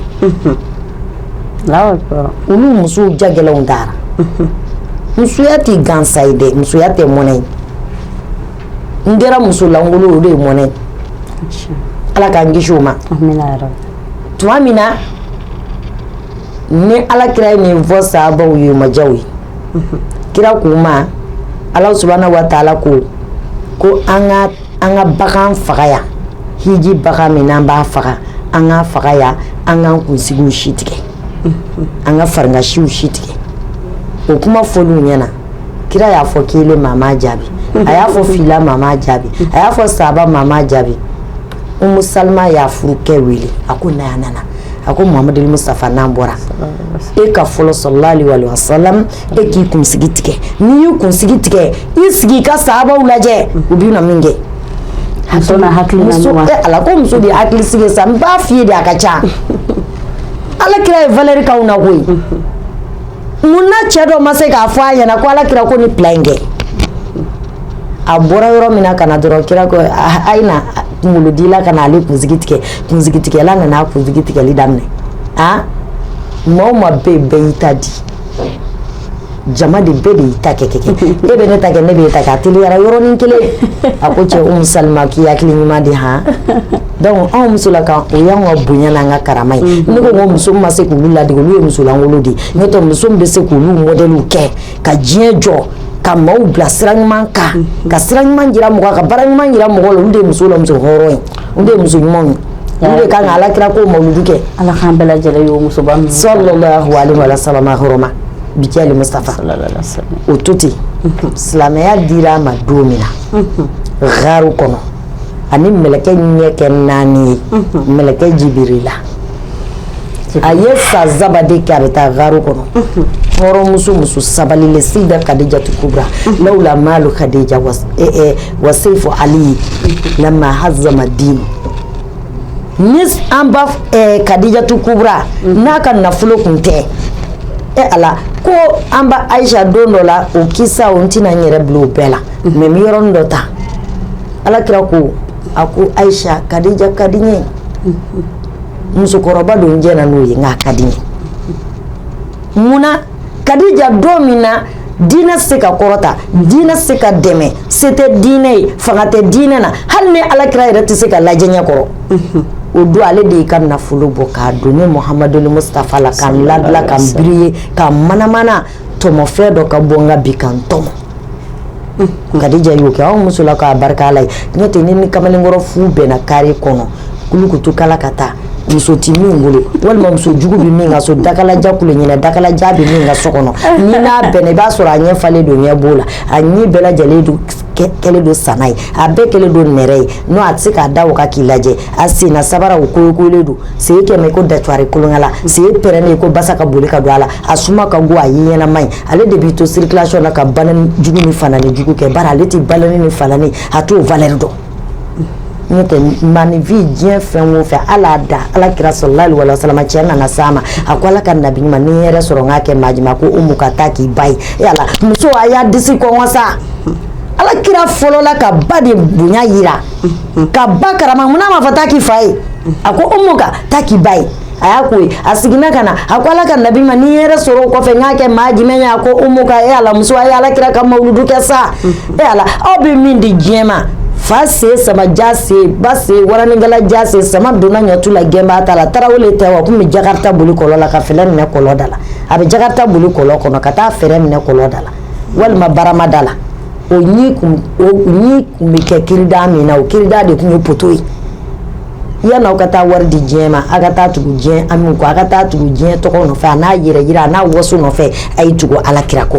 olu musow jagɛlɛnw taara musoya tɛ gansa ye dɛ musoya tɛ mɔnɛ ye n'i kɛra musolankolon o de ye mɔnɛ ye ala k'an kisi o ma tuma min na ni ala kira ye nin fɔ sahabaw ye majaw ye kira k'u ma ala subhanahu wa taala ko ko an ka an ka bagan faga yan hiji bagan min an b'a faga an k'a faga yan an k'an kunsigi si tigɛ an ka farikansiw si tigɛ o kuma f'olu ɲɛna kira y'a fɔ kelen maa m'a jaabi a y'a fɔ fila maa m'a jaabi a y'a fɔ saba maa m'a jaabi Umu Salama y'a furukɛ wele a ko na yan a nana a ko Muhamadul Mustafa n'an bɔra e ka fɔlɔ salalahu aleyihi wa salama e k'i kunsigi tigɛ n'i y'i kunsigi tigɛ i sigi i ka sahabaw lajɛ u bɛ na min kɛ ala ko muso de hakili sigi sa n b'a f'i ye de a ka ca ala kira ye valeur k'aw na koyi mun na cɛ dɔ ma se k'a fɔ a ɲɛna ko ala kira ko nin plan in kɛ a bɔra yɔrɔ min na ka na dɔrɔn kira ko a ye na kunkolodila ka na ale kunsigi tigɛ kunsigitigɛla nana a kunsigi tigɛli daminɛ maa o maa bɛɛ bɛɛ y'i ta di jama de bɛɛ de y'i ta kɛ kɛ kɛ e bɛ ne ta kɛ ne bɛ e ta kɛ a teliyara yɔrɔnin kelen a ko cɛ Umu Salima k'i hakili ɲuman di han donc anw musolakaw o y'anw ka bonya n'an ka karama ye ne ko ko muso min ma se k'olu ladege olu ye musolankolon de ye n'o tɛ muso min bɛ se k'olu modèle kɛ ka diɲɛ jɔ ka maaw bila sira ɲuman kan ka sira ɲuman jira mɔgɔ la ka baara ɲuman jira mɔgɔ la olu de ye muso la muso hɔrɔn ye u de ye muso ɲumanw ye olu de kan ka ala kira ko mawuludu kɛ Ala k'an bɛɛ lajɛlen y'o musoba ninnu salalahu aleyihi wa salama hɔrɔma bi jaahil Mustafa salalahu aleyihi wa salama o to ten silamɛya dira a ma don min na gaaru kɔnɔ a ni mɛlɛkɛ ɲɛ kɛ 4 ye mɛlɛkɛ jibirila a ye san saba de kɛ a bɛ taa gaaru kɔnɔ hɔrɔnmuso muso sabalilen sida kadijatu kubra lawla malu kadija wa seifu ali lama hazama din ni an ba kadijatu kubra n'a ka nafolo kun tɛ e ala ko an ba ayisa don dɔ la o kisa n tɛna n yɛrɛ bila o bɛɛ la mɛ n bɛ yɔrɔnin dɔ ta alakira ko a ko ayisa kadija ka di n ye musokɔrɔba don jɛnna n'o ye nk'a ka di n ye munna kadija don min na dinɛ se ka kɔrɔta dinɛ se ka dɛmɛ se tɛ dinɛ ye fanga tɛ dinɛ na hali ne ala kira yɛrɛ tɛ se ka lajɛ ɲɛ kɔrɔ o don ale de y'i ka nafolo bɔ k'a don ne muhamadul mustafa la ka n ladila ka n biriye ka n manamana tɔmɔfɛn dɔ ka bɔ n ka bi ka n tɔmɔ kadija y'o kɛ anw muso la k'a barika ala ye n'o tɛ ni ni kamalenkɔrɔ fu bɛnna kari kɔnɔ kulukutu kala ka taa muso tɛ min bolo walima muso jugu bɛ min ka so dakalaja kule ɲɛna dakalaja bɛ min ka so kɔnɔ ni n'a bɛnna i b'a sɔrɔ a ɲɛ falen don ɲɛ b'o la a ɲɛ bɛɛ lajɛlen don kɛ- kɛlen don sana ye a bɛɛ kɛlen don nɛrɛ ye n'o a tɛ se k'a da o kan k'i lajɛ a senna sabara o koyokoyolen don sen kɛmɛ ko datuwari kolonkala sen pɛrɛnnen ko basa ka boli ka don a la a suma ka go a ye ɲɛnama ye ale de b'i to sirikilasiyɔn na ka baneni jugu ni faneni jugu kɛ bari ale tɛ ba ni fa ni a t'o valɛri dɔn n'o tɛ maninfin diɲɛ fɛn o fɛn ala da ala kira salalahu aleyi wa salama cɛ nana s'a ma a ko ala ka nabi ɲuman ni yɛrɛ sɔrɔ n k'a kɛ maa jumɛn ko umuka taa k'i ba ye e ala muso a y'a disi kɔnkɔn sa ala kira fɔlɔla ka ba de bonya yira ka ba karama munna a ma fɔ taa k'i fa ye a ko umuka taa k'i ba ye a y'a ko ye a seginna ka na a ko ala ka nabi ɲuman ni yɛrɛ sɔrɔ o kɔfɛ n k'a kɛ maa jumɛn ye a ko umuka e ala muso a ye ala kira ka mawuludu kɛ sa e ala aw bɛ min di diɲɛ ma fa se sama ja se ba se waranikala ja se sama donna ɲɔtu la gɛnbaa ta la tarawele tɛ wa kun bɛ jakarita boli kɔlɔ la ka fɛrɛn minɛ kɔlɔ da la a bɛ jakarita boli kɔlɔ kɔnɔ ka taa fɛrɛn minɛ kɔlɔ da la walima barama da la o ɲi kun o ɲi kun bɛ kɛ kirida min na o kirida de kun ye poto ye yan aw ka taa wari di diɲɛ ma aw ka taa tugu diɲɛ an ko aw ka taa tugu diɲɛ tɔgɔ nɔfɛ a n'a yɛrɛ jira a n'a waso nɔfɛ a ye tugu ala kira kɔ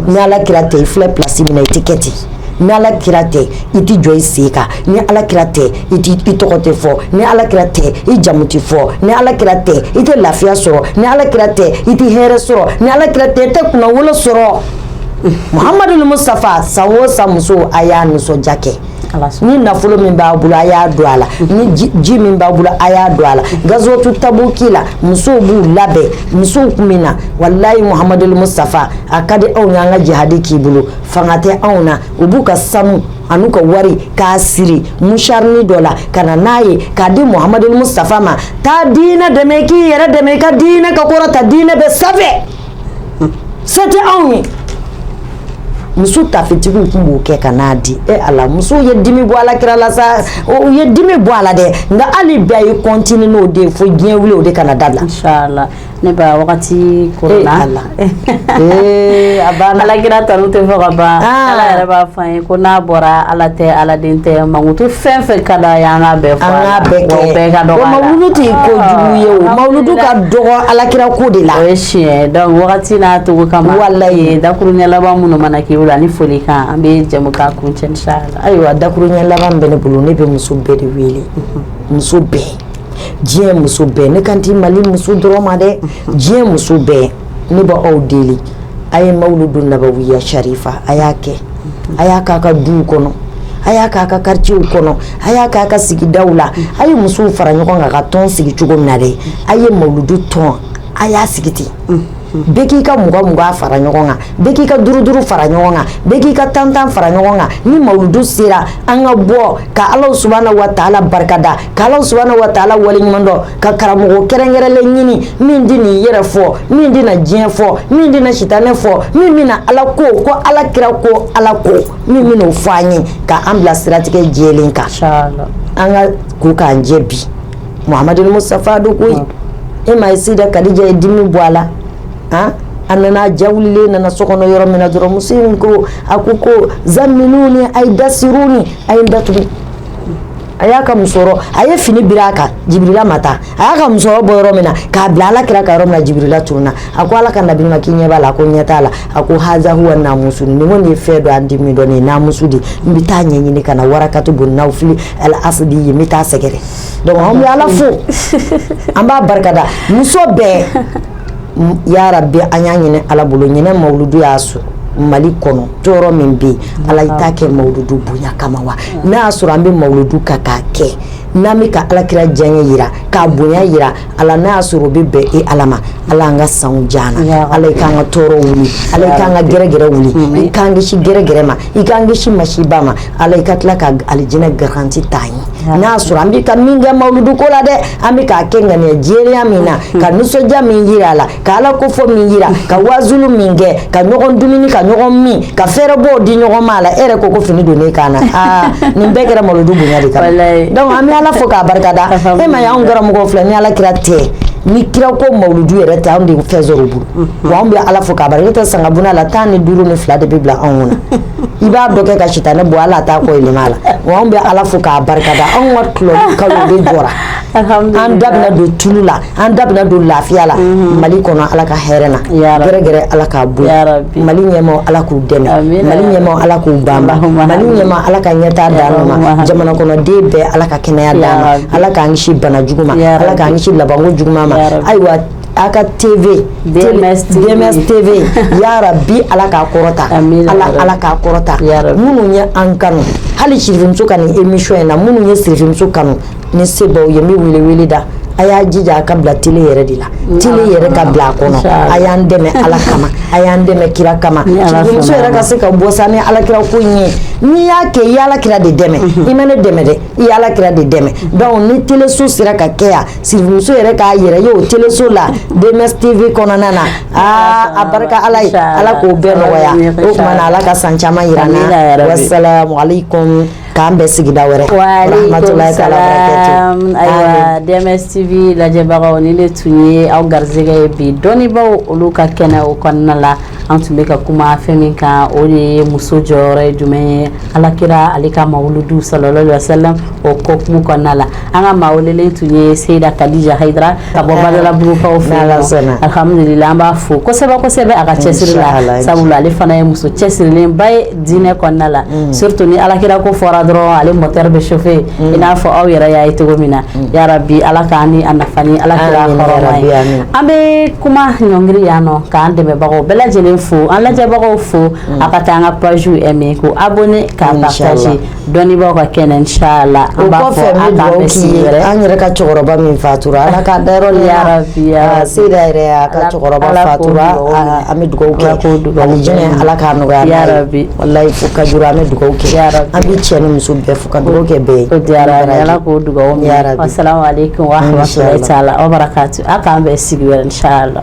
ni ala kira tɛ i filɛ plasi min na i tɛ kɛ ten ni ala kira tɛ i tɛ jɔ i sen kan ni ala kira tɛ i i tɔgɔ tɛ fɔ ni ala kira tɛ i jamu tɛ fɔ ni ala kira tɛ i tɛ lafiya sɔrɔ ni ala kira tɛ i tɛ hɛrɛ sɔrɔ ni ala kira tɛ i tɛ kunnawolo sɔrɔ muhamadu mustafa san o san muso a y'a nisɔndiya kɛ ni nafolo min b'a bolo a y'a don a la ni ji min b'a bolo a y'a don a la gazwatu tabuki la musow b'u labɛn musow tun bɛ na walayi muhamadu musitafa a ka di anw y'an ka jihadi k'i bolo fanga tɛ anw na u b'u ka sanu an'u ka wari k'a siri musharini dɔ la ka na n'a ye k'a di muhamadu musitafa ma taa diinɛ dɛmɛ k'i yɛrɛ dɛmɛ i ka diinɛ ka kɔrɔta diinɛ bɛ sanfɛ Se tɛ anw ye muso tafetigiw tun b'o kɛ ka n'a di e ala muso ye dimi bɔ alakira la sa u ye dimi bɔ a la dɛ nka hali bi a ye continuer n'o de fo diɲɛ wili o de kana dabila ne wagati ko la a banna alakira tanu tɛ fɔ ka ban ala yɛrɛ b'a fɔ an ye Ko n'a bɔra ala tɛ ala den tɛ mankutu fɛn fɛn ka d'a ye an k'a bɛɛ fɔ an k'a bɛɛ kɛ o mawuludu tɛ kojugu ye o mawuludu ka dɔgɔ alakira ko de la wagati n'a to ka ala ye dakuruɲɛ laban minnu mana k'i la ani folikan an bɛ jɛmukan kuncɛ inshallah ayiwa dakuruɲɛ laban bɛ ne bolo ne bɛ muso bɛɛ de wele muso bɛɛ diɲɛ muso bɛɛ ne kan tɛ mali muso dɔrɔn ma dɛ diɲɛ muso bɛɛ Ne b'aw deli a ye mawuludu nabawiya sharifa a y'a kɛ a y'a k'a ka du kɔnɔ a y'a k'a ka kartiye kɔnɔ a y'a k'a ka sigida la a ye musow fara ɲɔgɔn kan ka tɔn sigi cogo min na dɛ a ye mawuludu tɔn a y'a sigi ten bɛɛ k'i ka mugan mugan fara ɲɔgɔn kan bɛɛ k'i ka duuru duuru fara ɲɔgɔn kan bɛɛ k'i ka tantan fara ɲɔgɔn kan ni mawuludu sera an ka bɔ ka ala subhanahu wa ta'ala barikada ka ala subhanahu wa ta'ala waleɲuman dɔn ka karamɔgɔ kɛrɛnkɛrɛnlen ɲini min tɛn'a yɛrɛ fɔ min tɛna diɲɛ fɔ min tɛna sitanɛ fɔ min bɛna ala ko alakira ko ala ko min bɛna o fɔ an ye ka an bila siratigɛ jɛlen kan an ka ko k'an jɛ bi muhamadu musitafa don koyi e ma ye sida kadija ye dimi bɔ a la a a nana ja wulilen nana so kɔnɔ yɔrɔ min na dɔrɔn muso in ko a ko ko zamiluni a ye dasiruni a ye dat a y'a ka musɔrɔ a ye fini biri a kan Jibirila ma taa a y'a ka musɔrɔ bɔ yɔrɔ min na k'a bila Ala kira kan yɔrɔ min na Jibirila tununa a ko Ala ka nabi ɲuman k'i ɲɛ b'a la a ko ɲɛ t'a la a ko haza huwa namusu nin kɔni ye fɛn dɔ an tɛ min dɔn nin ye namusu de ye n bɛ taa ɲɛɲini ka na warakatu bun nawufili al asidi ye n bɛ taa sɛgɛrɛ donc an bɛ Ala fo an b'a barikada muso bɛɛ yarabi an y'a ɲini Ala bolo ɲinɛ mawuludu y'a sɔrɔ Mali kɔnɔ tɔɔrɔ min bɛ yen ala i t'a kɛ mawuludu bonya kama wa n'a y'a sɔrɔ an bɛ mawuludu kan k'a kɛ n'an bɛ ka alakira diyaɲɛ jira k'a bonya jira ala n'a y'a sɔrɔ o bɛ bɛn e ala ma ala an ka san diya an na ala i k'an ka tɔɔrɔ wuli ala i k'an ka gɛrɛgɛrɛ wuli i k'an kisi gɛrɛgɛrɛ ma i k'an kisi masiba ma ala i ka tila ka alijinɛ garanti ta an ye n'a y'a sɔrɔ an bɛ ka min kɛ mawuludu ko la dɛ an bɛ k'a kɛ ŋaniya jɛlenya min na ka nisɔndiya min jira a la ka ala ko fɔ min jira ka wazulu min kɛ ka ɲɔgɔn dumuni ka ɲɔgɔn min ka fɛɛrɛbɔw di ɲɔgɔn ma a la e yɛrɛ ko ko fini don ne kan na aa nin bɛɛ kɛra mawuludu bonya de kama donc an bɛ ala fo k'a barikada e m'a ye anw karamɔgɔw filɛ ni ala kira tɛ ni kira ko mawuludu yɛrɛ tɛ anw tɛ fɛn sɔrɔ bolo mhm. wa anw bɛ ala fo k'a barika n'o tɛ sangabuna la tan ni duuru ni fila de bɛ bila anw kunna i b'a dɔ kɛ ka sitanɛ bɔ ala t'a kɔ yɛlɛma a la wa anw bɛ ala fo k'a barikada anw ka tɔlɔli kalo de jɔra an da bɛna don tulu la an da bɛna don lafiya la mhm. mali kɔnɔ ala ka hɛrɛ na gɛrɛgɛrɛ ala k'a bɔ mali ɲɛmaaw ala k'u dɛmɛ mali ɲɛmaaw ala k'u banba mali ɲɛmaa ala ka ɲɛtaa d'an ma jamana kɔnɔden bɛɛ ala ka kɛnɛya d'an ma ala k'an kisi bana jugu ma ala k'an kisi labanko juguma ma ayiwa aw ka tv dms tv ya rabi ala k'a kɔrɔta ala ala k'a kɔrɔta minnu ye an kanu hali sirimuso ka nin emission in na minnu ye sirimuso kanu ni se b'aw ye n bɛ wele wele da a y'a jija a ka bila tele yɛrɛ de la tele yɛrɛ ka bila a kɔnɔ a y'an dɛmɛ ala kama a y'an dɛmɛ kira kama sirimuso yɛrɛ ka se ka bɔ sa ni alakira ko in ye n'i y'a kɛ i ye ala kira de dɛmɛ i ma ne dɛmɛ dɛ i ye ala kira de dɛmɛ donc ni teleso sera ka kɛ yan sirimuso yɛrɛ k'a yɛrɛ ye o teleso la dms tv kɔnɔna na aa a barika ala ye ala k'o bɛɛ nɔgɔya o ala ka san caman jira an na wa K'an bɛn sigida wɛrɛ ayiwa dms tv lajɛbagaw nin de tun ye aw garisɛgɛ ye bi dɔnniibaw olu ka kɛnɛ o kɔnɔna la an tun bɛ ka kuma fɛn min kan o de ye muso jɔyɔrɔ ye jumɛn ye alakira ale ka mawuludu salalahu alayhi wasalam o hukumu kɔnɔna la an ka maa welelen tun ye seyida kadija hayidara ka bɔ badalabugukaw fɛ alhamdulila an b'a fo kosɛbɛ kosɛbɛ a ka cɛsiri la sabula ale fana ye muso cɛsirilenba ye diinɛ kɔnɔna la mm. surtout ni alakira ko fɔra dɔrɔn ale moteur bɛ chauffer mm. i n'a fɔ aw yɛrɛ y'a ye cogo min na mm. ya rabi ala k'an ni a nafa ni alakira hɔrɔma ye an bɛ kuma ɲɔngiri yan nɔ k'an dɛmɛbagaw bɛɛ lajɛlen fo an lajɛbagaw fo a ka taa an ka page aimer k'o abonner k'a partager Dɔnnibaaw ka kɛnɛ n la an b'a fɔ an an yɛrɛ ka cɛkɔrɔba min fatura ala ka da yɛrɛ se yɛrɛ a ka cɛkɔrɔba fatura an bɛ dugawu kɛ jɛnɛ ala ka nɔgɔya bi walayi fo ka an bɛ dugawu kɛ an bɛ cɛ ni muso bɛɛ fo ka dugawu kɛ bɛɛ ye diyara ala ko dugawu min yɛrɛ bi sala aw ka aw k'an bɛɛ sigi wɛrɛ la